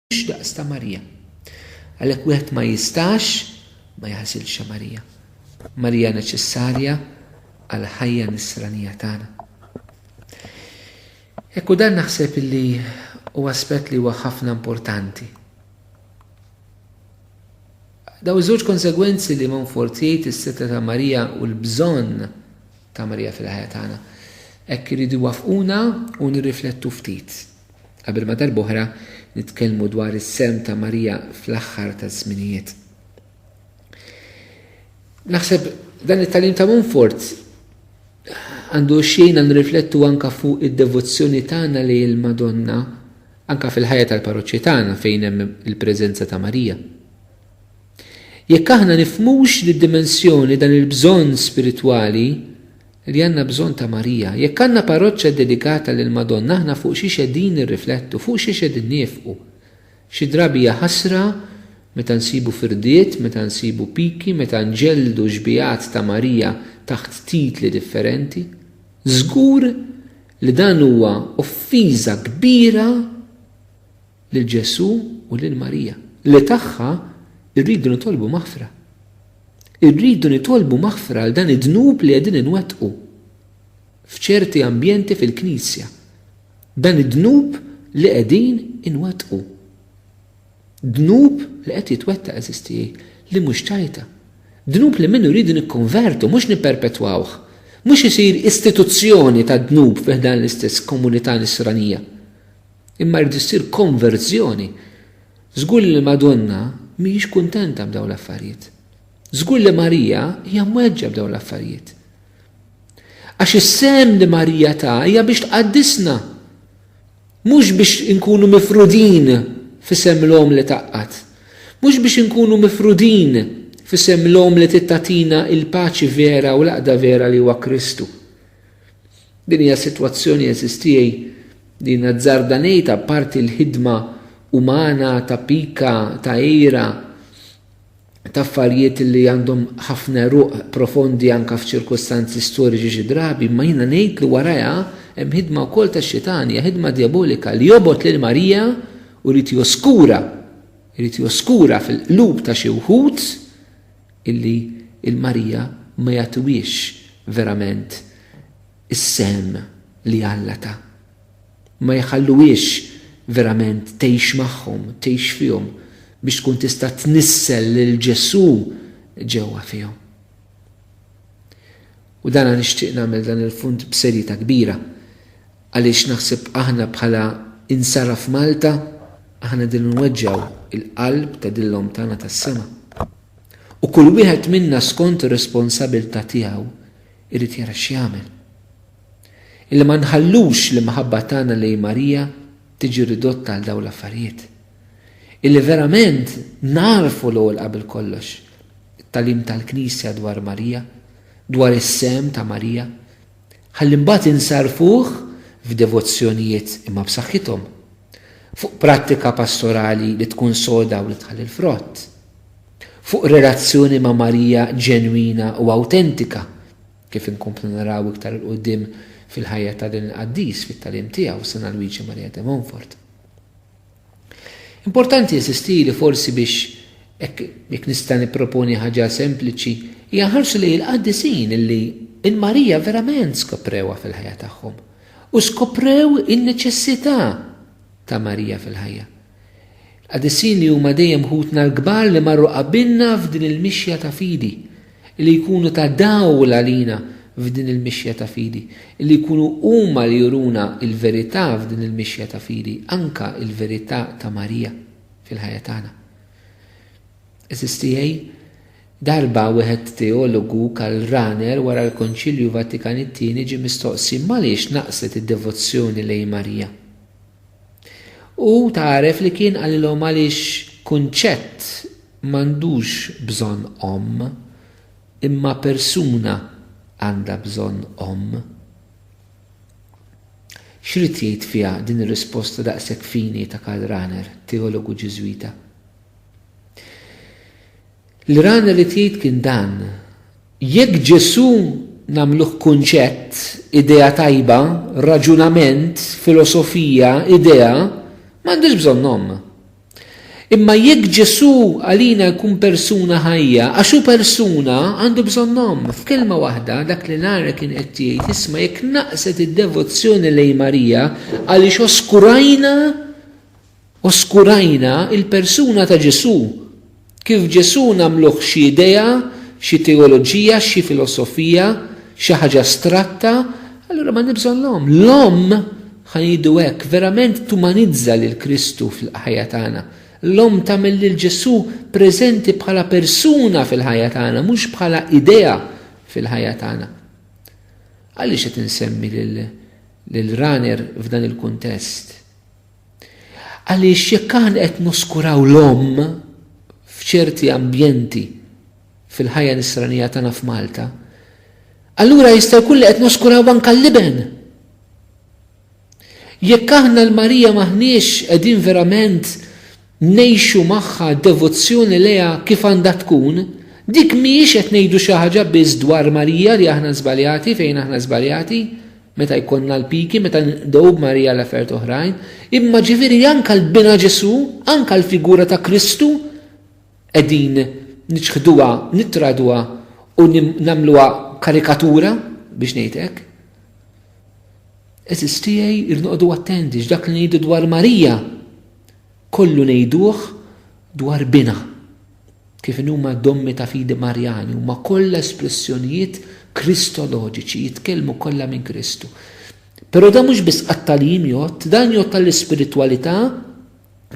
Mhux daqs ta' Marija. Għalhekk wieħed ma jistax ma jagħżilx Marija. Marija neċessarja għal ħajja nisranija tagħna. Ekku dan naħseb li u aspett li huwa ħafna importanti. Daw żewġ konsegwenzi li Monfort jgħid is-seta ta' Marija u l-bżonn ta' Marija fil-ħajja tagħna. Hekk iridu wafquna u nirriflettu ftit. qabel ma darb'oħra nitkellmu dwar is-sehem ta' Marija fl-aħħar taż-żminijiet. Naħseb dan it-tagħlim ta' Montfort għandu xejna nriflettu anka fuq id-devozzjoni tagħna li l-Madonna anka fil-ħajja tal-parroċċi tagħna fejn hemm il-preżenza ta' Marija. Jekk aħna nifhmux lid-dimensjoni dan il-bżonn spiritwali li għandna bżonn ta' Marija. Jekk għandna parroċċa ddedikata lill-Madonna aħna fuq xiex qegħdin nirriflettu, fuq xiex qegħdin niefqu. Xi drabi hija ħasra meta nsibu firdiet, meta nsibu piki, meta nġelldu xbigħat ta' Marija taħt titli differenti. Żgur li dan huwa offiża kbira lil Ġesù u lil Marija, li tagħha rridu nitolbu maħfra. Irridu nitolbu maħfra għal dan id-dnub li qegħdin inwettqu f'ċerti ambjenti fil-Knisja. Dan id-dnub li qegħdin inwettqu. Dnub li qed jitwettaq eżiż tiegħi, li mhux tajta. Dnub li minnu rridu nikkonvertu, mhux nipperpetwawh. Mhux isir istituzzjoni tad-dnub fi ħdan l-istess komunità nisranija. Imma jrid issir konverżjoni. Żgur li l-Madonna mhijiex kuntenta b'dawn l-affarijiet. Żgur li Marija hija mweġġa b'dawn l-affarijiet. Għax is-sehem li Marija ta hija biex tqaddisna. Mhux biex inkunu mifrudin f'isem l-omm li taqqat. Mhux biex inkunu mifrudin f'isem l-omm li tittatina il-paċi vera u l-aqda vera li huwa Kristu. Din hija sitwazzjoni, għeżież tiegħi, li jiena azzarda ngħid, apparti l-ħidma umana ta' pika, ta' għira, ta' affarijiet li għandhom ħafna eruq profondi anke f'ċirkustanzi storiċi xi drabi, imma jiena ngħid li warajha hemm ħidma wkoll tax-Xitan, hija ħidma djabolika li jobgħod lil Marija u jrid joskura, irid joskura fil-qlub ta' xi wħud illi l-marija ma jagħtuhiex verament is-sehem li Alla ta. Ma jħalluhiex verament tgħix magħhom, tgħix fihom, biex tkun tista' tnissel lil Ġesù ġewwa fihom. U dana nixtieq nagħmel dan il-punt b'serjetà kbira għaliex naħseb aħna bħala Insara f'Malta aħna din inweġġgħu il-qalb ta' din l-Omm tagħna tas-sema. U kull wieħed minna skont ir-responsabilità tiegħu jrid jara x'jagħmel. Illi ma nħallux l-imħabba tagħna lejn Marija tiġi ridotta għal dawn l-affarijiet. Illi verament nagħrfu l-ewwel qabel kollox it-tagħlim tal-Knisja dwar Marija, dwar is-sehem ta' Marija, ħalli mbagħad insarrfuh f'devozzjonijiet imma b'saħħithom, fuq prattika pastorali li tkun soda u li tħalli l-frott, fuq relazzjoni ma' Marija ġenwina u awtentika, kif inkomplu naraw iktar 'il quddiem fil-ħajja ta' din il-qaddis fit-tagħlim tiegħu, San Alwiġi Marija de Montfort. Importanti insisti li forsi biex hekk jekk nista' nipproponi ħaġa sempliċi, hija nħarsu lejn il-qaddisin li l-Marija verament skoprewha fil-ħajja tagħhom u skoprew in-neċessità ta' Marija fil-ħajja. Qaddisin li huma dejjem ħutna l-kbar li marru qabilna f'din il-mixja ta' fidi. li jkunu ta' dawl għalina f'din il-mixja ta' fidi, li jkunu huma li juruna l-verità f'din il-mixja ta' fidi, anke l-verità ta' Marija fil-ħajja tagħna. Għeżież tiegħi, darba wieħed teologu Karl Rahner wara l-Konċilju Vatikan it-Tieni ġie mistoqsi m'għaliex naqset id-devozzjoni lejn Marija. Hu tagħref li kien qalilhom għaliex kunċett M'għandux bżonn omm, imma persuna għandha bżonn omm. X'ried jgħid fiha din ir-risposta daqshekk fini ta' Karl Rahner, teologu Ġiżwita? Li Rahner ried jgħid kien dan, Jekk Ġesù nagħmluh kunċett, idea tajba, raġunament, filosofija, idea, m'għandux bżonn omm. Imma jekk Ġesù għalina jkun persuna ħajja, għax hu persuna, għandu bżonn omm. F'kelma waħda, dak li l-ara kien qed jgħid, isma' jekk naqset id-devozzjoni lejn Marija għaliex oskurajna oskurajna l-persuna ta' Ġesù. Kif Ġesù nagħmluh xi idea, xi teoloġija, xi filosofija, xi ħaġa astratta, allura m'għandi bżonn l-Omm. L-Omm, ħa ngħidu hekk, verament tumanizza lil Kristu fil-ħajja tagħna. L-Omm tagħmel lil Ġesù preżenti bħala persuna fil-ħajja tagħna, mhux bħala idea fil-ħajja tagħna. Għaliex qed insemmi lil Raner f'dan il-kuntest? Għaliex jekk aħna qed noskuraw l-omm f'ċerti ambjenti fil-ħajja nisranija tagħna f'Malta, allura jista' jkun li qed noskuraw anke l-iben. Jekk aħna l-Marija maħniex qegħdin verament ngħixu magħha devozzjoni lejha kif għandha tkun, dik mhijiex qed ngħidu xi ħaġa biss dwar Marija li aħna żbaljati fejn aħna żbaljati, meta jkollna l-piki, meta nqdgħu b'Marija għal affarijiet oħrajn, imma ġifieri anke l-Bina Ġesù, anke l-figura ta' Kristu qegħdin niċħduha, nittraduha u nagħmluha karikatura biex ngħid hekk. Għeżież tiegħi rrid noqogħdu attenti x'dak li ngħidu dwar Marija Kollu ngħiduh dwar Binha. Kif inhuma d-dommi ta' fidi Marjani, huma kollha espressjonijiet Kristoloġiċi, jitkellmu kollha minn Kristu. Però dan mhux biss għat-tagħlim jgħodd, dan jgħodd għall-ispiritwalità,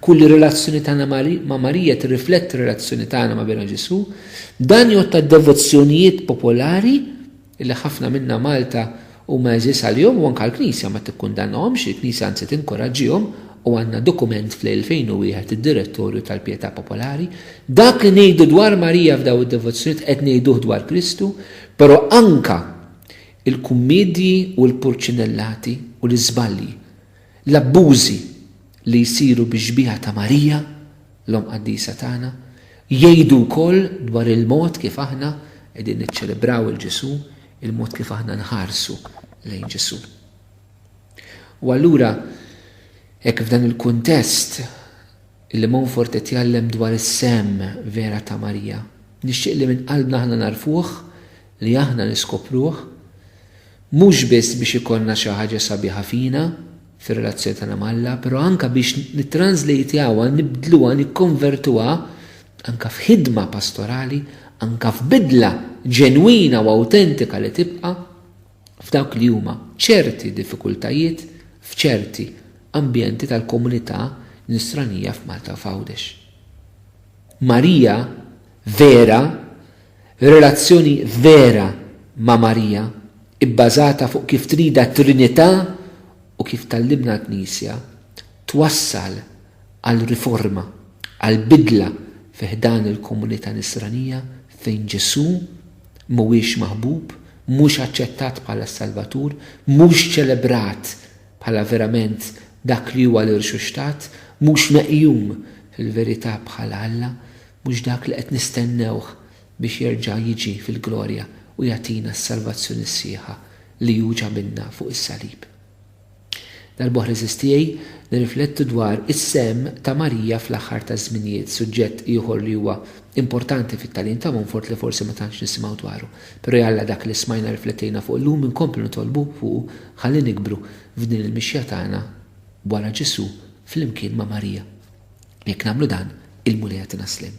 kull relazzjoni tagħna ma' Marija tirrifletti r-relazzjoni tagħna ma' Binha Ġesù, dan jgħodd għad-devozzjonijiet popolari, li ħafna minna Malta huma għeżież għalihom u anke l-Knisja ma tikkundannahomx, il-Knisja anzi tinkoraġġihom u għandna dokument fl-2001 id-Direttorju tal-Pietà Popolari. Dak li ngħidu dwar Marija f'daw id-devozzjonijiet qed ngħiduh dwar Kristu, però anke il-kummiedji u l-purċinellati u l-iżbalji, l-abbużi, li jsiru bix-xbieha ta' Marija, l-Omm Qaddisa tagħna, jgħidu wkoll dwar il-mod kif aħna qegħdin niċċelebraw 'il Ġesù, il-mod kif aħna nħarsu lejn Ġesù. U allura, hekk f'dan il-kuntest, li Montfort qed jgħallem dwar is-sehem vera ta' Marija, nixtieq li minn qalbna aħna nagħrfuh, li aħna niskopruh, mhux biss biex ikollna xi ħaġa sabiħa fina, fir-relazzjoni tagħna ma' Alla, però anke biex nittranżlejtjawha, nibdluha, nikkonvertuha anke f'ħidma pastorali, anke f'bidla ġenwina u awtentika li tibqa' f'dawk li huma ċerti diffikultajiet f'ċerti ambjenti tal-komunità Nisranija f'Malta u f'Għawdex. Marija vera Relazzjoni vera ma' Marija, ibbażata fuq kif tridha t-Trinità u kif tgħallimna l-Knisja, twassal għal riforma, għal bidla fi ħdan il-komunità Nisranija fejn Ġesù mhuwiex maħbub, mhux aċċettat bħala s-Salvatur, mhux ċelebrat bħala verament dak li huwa l-Irxuxtat, mhux meqjum fil-verità bħala Alla. Mhux dak li qed nistennewh biex jerġa' jiġi fil-glorja u jagħtina s-salvazzjoni sħiħa li hu ġabilna fuq is-salib. Darb'oħra għeżież tiegħi, nirriflettu dwar is-sehem ta' Marija fl-aħħar taż-żminijiet, suġġett ieħor li huwa importanti fit-tagħlim ta' Montfort li forsi ma tantx nisimgħu dwaru. Però jalla dak li smajna rriflettejna fuq illum inkomplu nitolbu fuqu ħalli nikbru f'din il-mixja tagħna wara Ġesù flimkien ma' Marija. Jekk nagħmlu dan, il-Mulej jagħtina sliem.